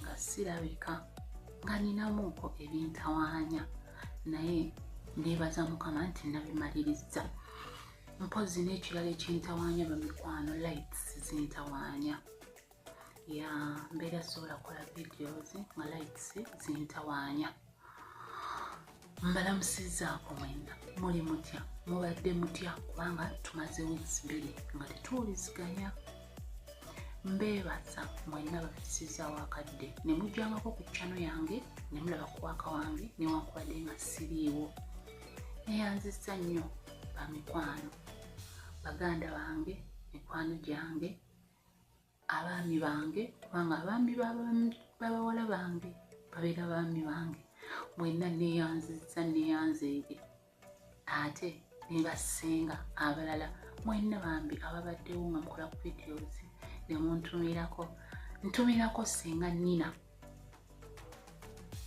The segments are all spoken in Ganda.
nga sirabika nga ninamuuko ebintawaanya naye nebaza mukama nti nabimalirizza mpozi n'ekirala ekintawaanya bamikwano lights zintawaanya ya mbeera sobola kola videos nga lights zintawaanya mbalamusizzaako mwena muli mutya mubadde mutya kubanga tumaze weeks bbiri nga tetuwuliziganya mbeebaza mwena bafisizaawo akadde ne mujjangako ku kyano yange ne mulaba kuwaaka wange newankubadde nga siriiwo neyanzizza nnyo bamikwano baganda bange mikwano gyange abaami bange kubanga abaami babawala bange babeera baami bange mwenna neyanziza neyanzeege ate nebasinga abalala mwenna bambi ababaddewo nga mukola ku videos nemuntumirako ntumirako singa nina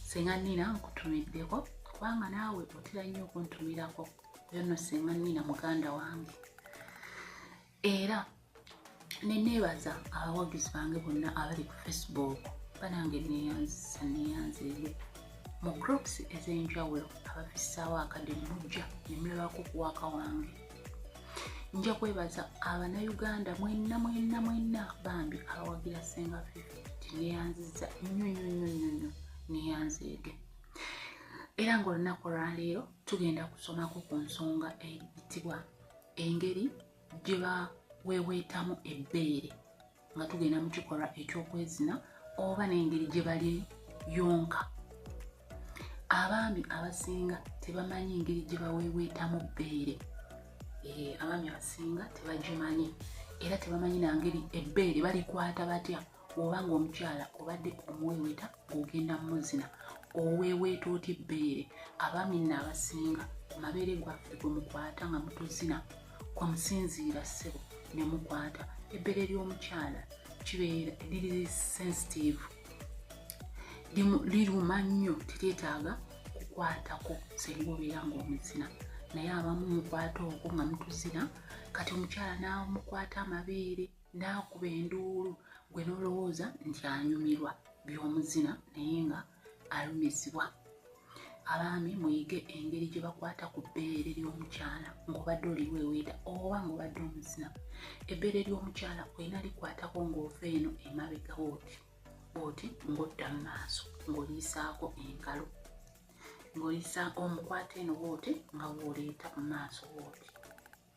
singa nina nkutumiddeko kubanga naawe otera nnyo okuntumirako yono singa nina muganda wange era neneebaza abawagizi bange bonna abali ku facebook banange neyanzisa neyanzeeyo mu groups ez'enjawulo abafissaawo akade mujja nemulabako kuwaaka wange nja kwebaza abanauganda mwenna mwenna mwenna bambi abawagira senga fifi tineyanziza nnyo nnyo nnyo nnyo nnyo neyanzeege era ng'olunaku olwaleero tugenda kusomako ku nsonga eyitibwa engeri gye baweeweetamu ebbeere nga tugenda mu kikolwa eky'okwezina oba n'engeri gye bali yonka abaami abasinga tebamanyi ngeri gye baweeweetamu bbeere eh, abaami abasinga tebagimanyi era tebamanyi nangeri ebbeere balikwata batya oba ng'omukyala obadde omuweeweta ng'ogenda mumuzina oweeweeta otya ebbeere abaami nno abasinga ku mabeere gwaffe gwe mukwata nga mutuzina kwe musinziira ssebo ne mukwata ebbeere ly'omukyala kibeera liri sensitive liruma nnyo teryetaaga kukwatako senga obeera ng'omuzina naye abamu mukwata okwo nga mutuzina kati omukyala n'amukwata amabeere na n'akuba enduulu gwe n'olowooza nti anyumirwa by'omuzina naye nga alumizibwa abaami muyige engeri gye bakwata ku bbeere ly'omukyala ng'obadde oliweweeta oba ng'obadde omuzina ebbeere ly'omukyala olina likwatako ng'ova eno emabega oti oti ng'odda mu maaso ng'oliisaako engalo ng'oliisaako omukwata eno wooti nga wooleeta mu maaso wooti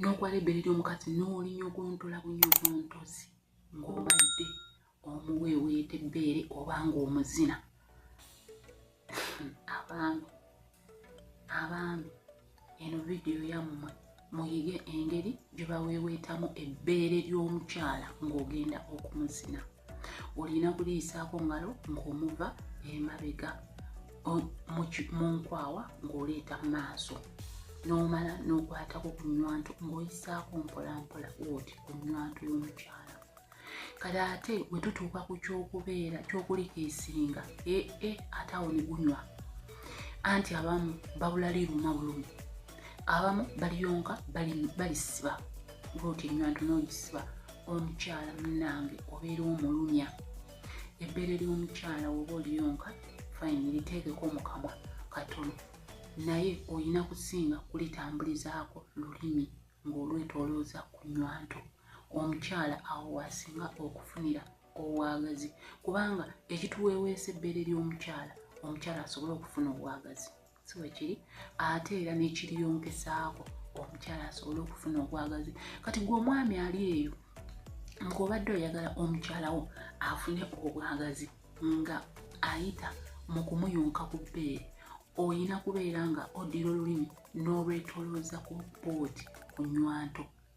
n'okwala ebbere ly'omukazi n'olinyogontola bunyogontozi ng'obadde omuweeweeta ebbeere oba ng'omuzina abaami abaami eno vidiyo yammwe muyige engeri gye baweeweetamu ebbeere ly'omukyala ng'ogenda okumuzina olina kuliyisaako ngalo ng'omuva emabega mu nkwawa ng'oleeta mu maaso n'omala n'okwatako ku nywanto ng'oyisaako mpolampola oti ku nywanto y'omukyala kale ate bwe tutuuka ku ky'okubeera ky'okulika esinga ee e, ate awo ne gunywa anti abamu babula liruma bulumi abamu baliyonka balisiba ng'oti enywanto n'ogisiba omukyala munange obeera omulumya ebbeere ly'omukyala woba oliyonka fine liteekeko mukamwa katono naye olina kusinga kulitambulizaako lulimi ng'olwetolooza ku nywanto omukyala awo waasinga okufunira obwagazi kubanga ekituweeweesa ebbeere ly'omukyala omukyala asobole okufuna obwagazi si bwe kiri ate era n'ekiriyongesaako omukyala asobole okufuna obwagazi kati gwe omwami ali eyo ng'obadde oyagala omukyalawo afune obwagazi nga ayita mu kumuyunka ku bbeere olina kubeera nga oddira olulimi n'olwetolooza ku boodi ku nywanto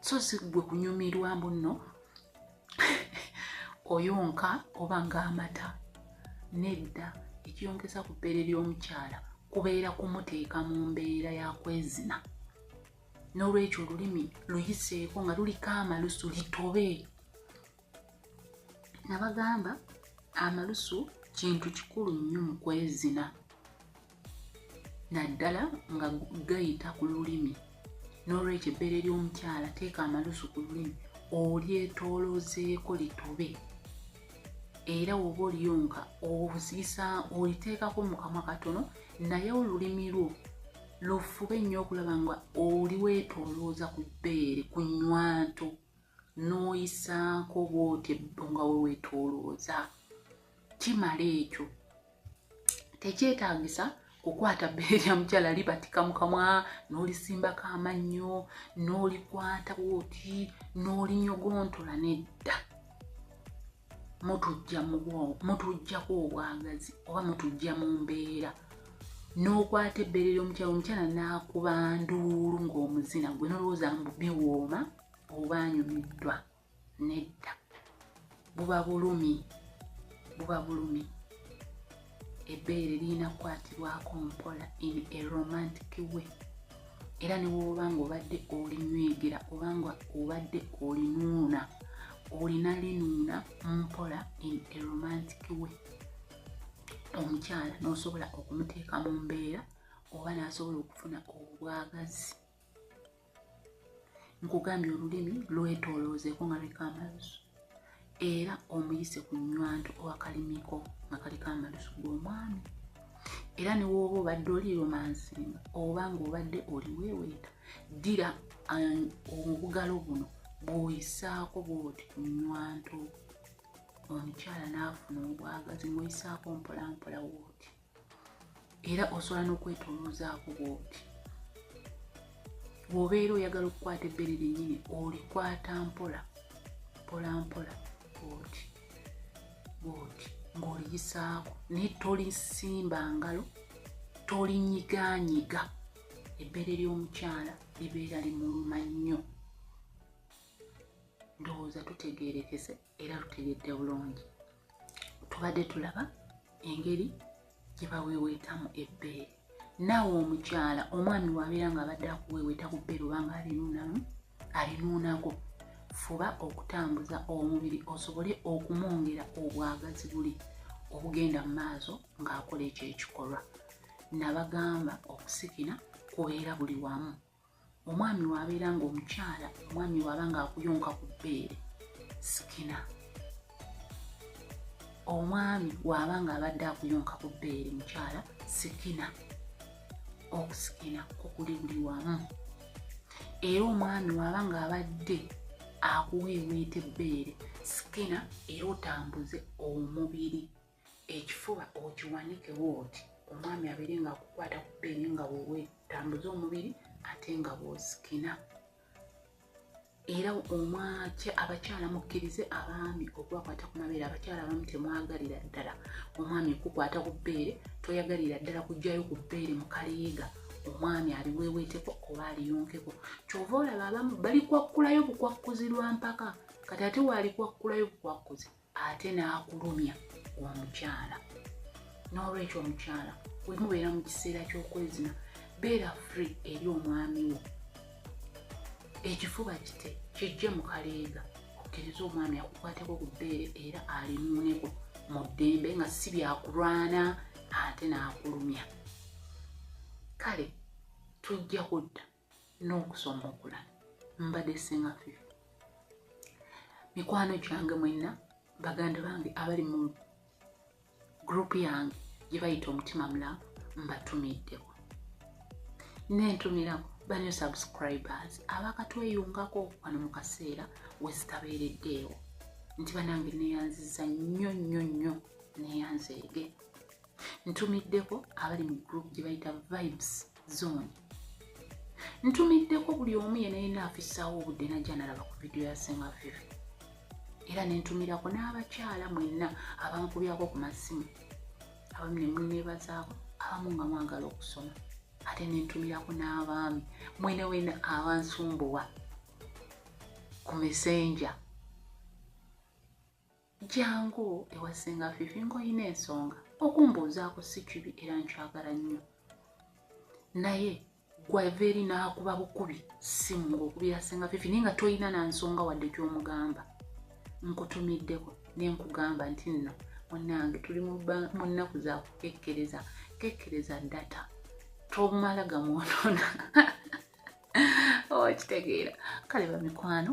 so si gwe kunyumirwa mbu nno oyonka oba ng'amata nedda ekiyongeza ku bbeere ly'omukyala kubeera kumuteeka mu mbeera ya kwezina n'olwekyo olulimi luyiseeko nga luliko amalusu litobe nabagamba amalusu kintu kikulu nnyo mu kwezina naddala nga gayita ku lulimi n'olwekyo ebbeere ly'omukyala teeka amalusu ku lulimi olyetooloozeeko litobe era woba oliyo nga ozisa oliteekako mu kamwa katono naye olulimi lwo lufube nnyo okulaba nga oli weetoolooza ku bbeere ku nywanto n'oyisaako bw'oti ebbo nga we weetoolooza kimala ekyo tekyetaagisa kukwata bbeere lya mukyala libatika mu kamwa n'olisimbako amannyo n'olikwata bw'oti n'olinyogontola nedda mutujja mutujjako obwagazi oba mutujja mu mbeera n'okwata ebbeere ly'omukyala omukyala n'akuba nduulu ng'omuzina gwe nolowooza mbu biwooma oba anyumiddwa nedda buba bulumi buba bulumi ebbeere lirina kukwatibwako mpola in a romantic way era ne woba nga obadde olinywegera oba nga obadde olinuuna olina linuuna mpola in a romantic way omukyala n'osobola okumuteeka mu mbeera oba n'asobola okufuna obwagazi nkugambye olulimi lwetoloozeeko nga liko amalusu era omuyise ku nywanto owakalimiko nga kaliko amalusu g'omwami era newooba obadde oli romansinga oba nga obadde oliweeweeta ddira um, obugalo buno bwoyisaako bwoti ku nywanto omukyala n'afuna obwagazi ngoyisaako mpolampola wooti era osobola n'okwetoloozaako bwoti bw'obeera oyagala okukwata ebbere lyennyini olikwata mpola mpola mpola bwoti bwoti ng'oliyisaako naye tolisimba ngalo tolinyiganyiga ebbere ly'omukyala libeera limuluma nnyo ndowooza tutegeerekese era lutegedde bulungi tubadde tulaba engeri gye baweeweetamu ebbeere naawe omukyala omwami wabeera ng'abadde akuweeweeta ku bbeere obanga alinuunamu alinuunako fuba okutambuza omubiri osobole okumwongera obwagazi buli obugenda mu maaso ng'akola ekyo ekikolwa nabagamba okusikina kubeera buli wamu omwami wabeera nga omukyala omwami waba nga akuyonka ku bbeere sikina omwami waaba nga abadde akuyonka ku bbeere mukyala sikina okusikina kukuli buli wamu era omwami waaba nga abadde akuweeweeta ebbeere sikina era otambuze omubiri ekifuba okiwanikewo oti omwami abeere nga akukwata ku peeni nga wewetambuza omubiri ate nga bwosikina era omwakya abakyala mukkirize abaami okubakwata ku mabeere abakyala abamu temwagalira ddala omwami okukwata ku bbeere toyagalira ddala kugjayo ku bbeere mu kaliyiga omwami aliweweeteko oba aliyonkeko kyova olaba abamu balikwakkulayo bukwakkuzi lwa mpaka kati ate waalikwakkulayo bukwakkuzi ate n'akulumya omukyala n'olwekyo omukyala wemubeera mu kiseera ky'okwezina beera free eri omwami wo ekifuba kite kijje mu kaleega okkiriza omwami akukwateko ku bbeere era alimuuneko mu ddembe nga si byakulwana ate n'akulumya kale tujja kudda n'okusoma okulala mbadde singa fe mikwano gyange mwenna baganda bange abali mu gurupu yange gye bayita omutima mulaavu mbatumiddeko nentumirako banyo subscribers abakatweyungako wano mu kaseera wezitabeereddeewo nti banange neyanziza nnyo nnyo nnyo neyanzeege ntumiddeko abali mu group gye bayita vibes zooni ntumiddeko buli omu yena yena afisaawo obudde najja nalaba ku vidiyo ya senga vivi era nentumirako n'abakyala mwenna abankubyako ku masimu abamu ne munneebazaako abamu nga mwagala okusoma ate nentumirako n'abaami mwena wena abansumbuwa ku mesenja Jangu ewa ssenga Fifi ng'olina ensonga okumbuuzaako si kibi era nkyagala nnyo naye gwava eri n'akuba bukubi ssimu ng'okubira ssenga Fifi naye nga tolina na nsonga wadde gy'omugamba nkutumiddeko ne nkugamba nti nno munnange tuli mu nnaku za kukekkereza kekkereza data tomala gamwonona okitegeera oh, kale bamikwano